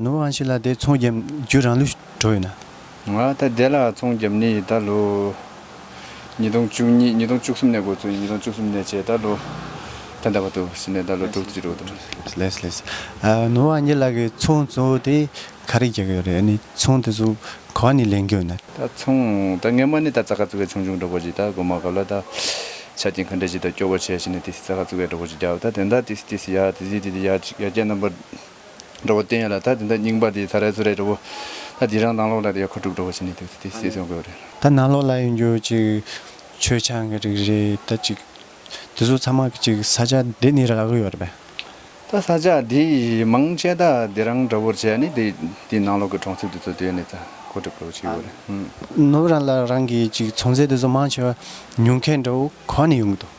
ནུ་བོ་ཨང་ཤི་ལ་དེ་ཚོང་རྒྱབ་རྒྱུ་རང་ལུས་གྲོགས་ཡོད་ན། ང་ད་ལྟའི་ལ་ཚོང་རྒྱབ་ནི་ཡི་ད་ལོ། ཉིས་སྟོང་བཅུ་གཉིས་ཉིས་སྟོང་བཅུ་གསུམ་ནས་འགོ་ཚུགས་ཉིས་སྟོང་བཅུ་གསུམ་ནས་བྱས་ད་ལོ། ད་འདའ་བ་འདུག་ཟིན་ནས་ད་ལོ་དྲུག་བཅུ་དྲུག་དང། ལེས་ལེས། ནུ་བོ་ཨང་ཤི་ལ་གི་ཚོང་ཚོ་དེ་ག་རེ་རྒྱག་གི་ཡོད་རེད་ནི་ཚོང་དེ་ཚོ་ག་བ་ནི་ལེན་གི་ཡོད་ན། ད་ཚོང་ད་ངེད་མ་ནི་ད་རྩ་ཁ་བཙུགས་ཀའི་ཆུང་ཆུང་གྲོགས་པོ་ཅིག་ད་སྒོ་མ་གབ་ལ་ད། ཆ་རྐྱེན་ག་འདྲས་ཅིག་ད་སྐྱོ་བོ་བྱས་ཤི་ནི་དེ་སི་རྩ་ཁ་བཙུགས་ཀའི་གྲོགས་པོ་ཅིག་རྒྱབ་ད་དེ་འདའ་དེ་སི་དེ་སི་ཡ་དེ་སི་དེ་དེ་ཡ་ཅིག་ཡ་རྒྱ་རྣམ་པ། འགྲོ་བ་བསྟན་ཡོད་ལ་ད་དེ་འདྲ་རྙིང་པ་དེ་ད་རལ་ཚོ་རེད་འགྲོ་བོ། ད་དེ་རང་སྣང་ལོག་ལ་དེ་ཡོད་ཁ་དཀྲུག་འགྲོ་བོ་བྱེད་ནི་དེ་ཚོ་དེ་སེ་ཚོང་དགོས་རེད། ད་སྣང་ལོག་ལ་ཡོད་རྒྱུ་གཅིག་ཆོས་ཆང་གི་རིགས་རེད་ད་གཅིག་དེ་ཚོ་ཚང་མ་གཅིག་ས་ཆ་དེ་ནི་རག་གི་ཡོད་རེད་པས། ད་ས་ཆ་དེ་མང་ཆེ་ད་དེ་རང་འདྲ་བོར་བྱས་ནི་དེ་དེ་སྣང་ལོག་གི་གྲོང་གསེབ་དེ་ཚོ་དེ་ཡོད་ནི་ད་ཁོ་དཀྲུག་འགྲོ་བོ་བྱེད་གི་ཡོད་རེད། ནུབ་རང་ལ་རང་གི་གཅིག་ཚོང་ཟས་དེ་ཚོ་མང་ཆེ་བ་ཉུང་མཁན་འདྲ་བོ་གང་ནས་ཡོང་གི་འདུག།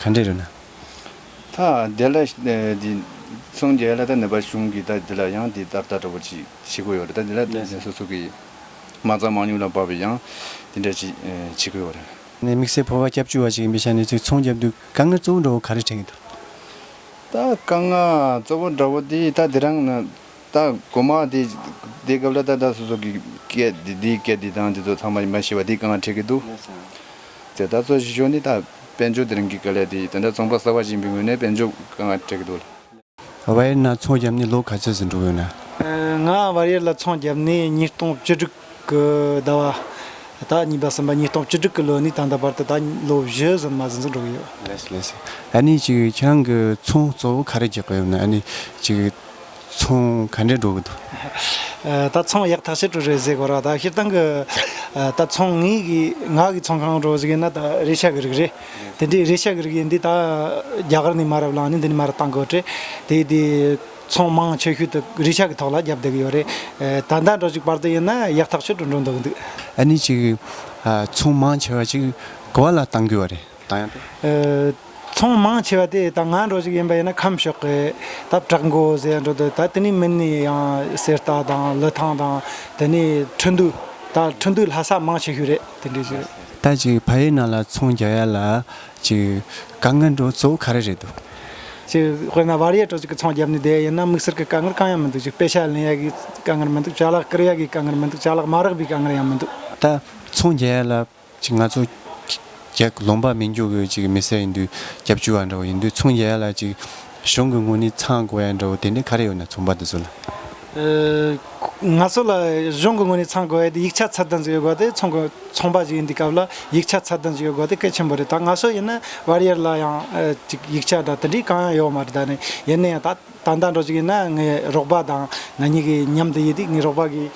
ག་འདྲས་རེད་ན། ད་དེ་ལ། འདི། སངས་རྒྱས་ལ་ད་ནེ་པ་གཞུང་གིས་ད་དེ་ལ་ཡང་འདི་ལྟར་ལྟ་གྲོ་བོ་ཅི་བྱེད་དགོས་ཡོད་རེད་ད་དེ་ལ་དེ་ནས་སོ་སོ་གི། མ་རྩ་མང་ཉུང་ལ་བབ་པའི་ཡང་དེ་འདྲ་ཅི་བྱེད་དགོས་ཡོད་རེད། ནས་དམིགས་བསལ་ཕོར་བ་སྐྱབས་བཅོལ་བ་ཞིག་ཡིན་པའི་ཆ་ནས་ཚིག་མཚུངས་བརྒྱབ་འདུག་དཀའ་ངལ་གཙོ་བོ་འདྲ་བོ་ག་རེ་འཕྲད་ཀྱི་འདུག། ད་དཀའ་ངལ་གཙོ་བོ་འདྲ་བོ་དེ་ད་དེ་རང་ན། ད་གོ་མ་དེ་དེ་སྐབས་ལ་ད་ད་སོ་སོ་གི་སྐད་དེ་དེའི་སྐད་དེ་དང་དེ་ཚོ་ཚང་མ་མ་ཤེས་པ་དེ་གང་ལ་འཕྲད་ཀྱི་འདུག་དེ་ད་གཙོ་བཞི་ཤོས་ནི་ད་དཔལ་འབྱོར་དེ་རིང་གི་སྐད་ལས་དེ་དེ་འདྲ་ཚོང་པ་གསར་བ་ཞིག་ཡིན་པའི་ངོས་ནས་དཔལ་འབྱོར་གང་ལ་འཕྲད་ཀྱི་འདུག་ལ། བར་ཡེར་ན་ཚོང་བརྒྱབ་ནས་ལོ་ག་ཚོད་ཟིན་འགྲོ་གི་ཡོད་ན། ང་བར་ཡེར་ལ་ཚོང་བརྒྱབ་ནས་ཉིས་སྟོང་བཅུ་དྲུག། ཀྱི་ཟླ་བ། ད་གཉིས་པ་གསུམ་པ་ཉིས་སྟོང་བཅུ་དྲུག་གི་ལོ་ནས་ད་ལྟ་བར་དུ་ད་ལོ་བཞི་ཟིན་མ་ཟིན་ཟིན་འགྲོ་གི་ཡོད། ལེགས་ལེགས། ཨ་ནི་ཅིག་ཁྱེད་རང་གི་ཚོང་གཙོ་བོ་ག་རེ་རྒྱག་གི་ཡོད་ན་ཨ་ནི་ཅིག་ཚོང་ག་འདྲས་འགྲོ་གི་འདུག། ད་ཚོང་ཡག་ཐག་ཆད་འགྲོ་རེད་ཟེར་གོ་ར་ད་ཤེལ་ཐང་གི་ད་ཚོང་ངས་གི་ང་གི་ཚོང་གང་འགྲོ་ཟེར་གི་ན་ད་རེ་ཤ་གི་རིགས་རེད་དེ་འདྲས་རེ་ཤ་གི་རིགས་ཡིན་དུས་ད་རྒྱ་གར་ནས་མ་རབས་ལངས་ནས་འདི་ནས་མ་རབས་བཏང་གོ་དྲེད་དེ་དེ། ཚོང་མང་ཆེ་ཤོས་དེ་རི་ཆགས་ཀྱི་ཐོག་ལ་བརྒྱབ་བསྡད་ཀྱི་ཡོད་རེད། ད་ཟླ་འགྲོ་གཅིག་བར་དུ་ཡིན་ན་ཡག་ཐག་ཆོད་དུ་འགྲོ་འདུག་འདུག། ཨ་ནི་ཅིག། ཚོང་མང་ཆེ་བ་ཅིག་ག་བ་ལ་བཏང་རྒྱུ་བ་རེད་ད་ཡང་དེ། ཚོང་མང་ཆེ་བ་དེ་ད་ང་འགྲོ་གཅིག་ཡིན་པ་ཡིན་ན་ཁམས་ཕྱོགས་ཀྱི་ད་བྲག་མགོ་ཟེར་ཡང་འགྲོ་འདུག་ད་དེ་ནས་མིན་ནས་ཡང་གསེར་རྟ་དང་ལི་ཐང་དང་དེ་ནས་ཁྲི་འདུ་ད་ཁྲི་འདུ་ལྷ་ས་མང་ཆེ་ཤོས་རེད་དེ་འདྲའི་ཞིག་རེད། ད་ཅིག་ཕ་ཡི་ནང་ལ་ཚོང་རྒྱག་ཡ་ལ། ཅིག། དཀའ་ངལ་འགྲོ་གཙོ་བོ་ག་རེ་རེད་འདུག། ཅིག། དཔེར་ན་བར་ཡས་གྲོ་ཅིག་གི་ཚོང་རྒྱབ་ནས་བསྡད་ཡོད་ན་དམིགས་བསལ་གྱི་དཀའ་ངལ་གང་ཡང་མི་འདུག་ཅིག་དཔེ་ཆ་ལེན་ཡག་གི་དཀའ་ངལ་མི་འདུག་ཅག་ལག་བཀར་ཡག་གི་དཀའ་ངལ་མི་འདུག་ཅག་ལག་མ་རག་པའི་དཀའ་ངལ་ཡང་མི་འདུག། ད། ཚོང་རྒྱལ་ཡས་ལ། ཅིག་ང་ཚོ། རྒྱལ། ལོང་པ་མི་འགྱོ་གི་ཅིག་མི་སེར་ཡིན་དུས་རྒྱབ་བཅུ་བ་འདྲ་བོ་ཡིན་དུས་ཚོང་རྒྱལ་ཡས་ལ་ཅིག། གཞུང་གི་དངུལ་ནི་ཚང་དགོས་ཡ་འདྲ་བོ་དེ་འདྲ་ག་རེ་ཡོད་ན་ཚོང་པ་འདི་ཚོ་ལ། ང་ཚོ་ལ་གཞུང་གི་དངུལ་ནི་ཚང་དགོས་ཡ་དེ་ཡིག་ཆ་ཚར་སྡང་ཅིག་ཡོད་དགོས་དེ་ཚོང་གི་ཚོང་པ་ཞིག་ཡིན་དུས་སྐབས་ལ་ཡིག་ཆ་ཚར་སྡང་ཅིག་ཡོད་དགོས་དེ་སྐད་ཆེན་པོ་རེད་ད་ང་ཚོ་ཡིན་ན་བར་ཡར་ལ་ཡང་ཅིག་ཡིག་ཆ་དང་དེ་འདྲའི་གང་ཡང་ཡོད་མ་རེད་ད་ནི་ཡིན་ན་ཡང་ད་ད་ལྟ་འགྲོ་ཅིག་ཡིན་ན་ངའི་རོགས་པ་དང་ང་གཉིས་ཀྱི་མཉམ་དུ་ཡིན་དུས་ངའི་རོགས་པ་གིས།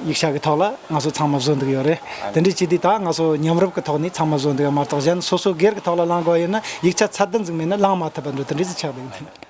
ཡིག་ཆ་གི་ཐོག་ལ་ང་ཚོ་ཚང་མ་བཟོ་འདུག་ཡོད་རེད། དེ་འདྲའི་སྤྱི་དེ་དག་ང་ཚོ་མཉམ་རུབ་ཀྱི་ཐོག་ནས་ཚང་མ་བཟོ་འདུག་ཡོད་མ་གཏོགས་གཞན་སོ་སོ་སྒེར་གྱི་ཐོག་ལ་བླང་དགོས་ཡོད་ན་ཡིག་ཆ་ཚར་དུ་འཛུགས་མེད་ན་བླང་མ་ཐུབ་པ་འདྲ་དེ་འདྲས་སུ་ཆགས་འདུག་ཡོད།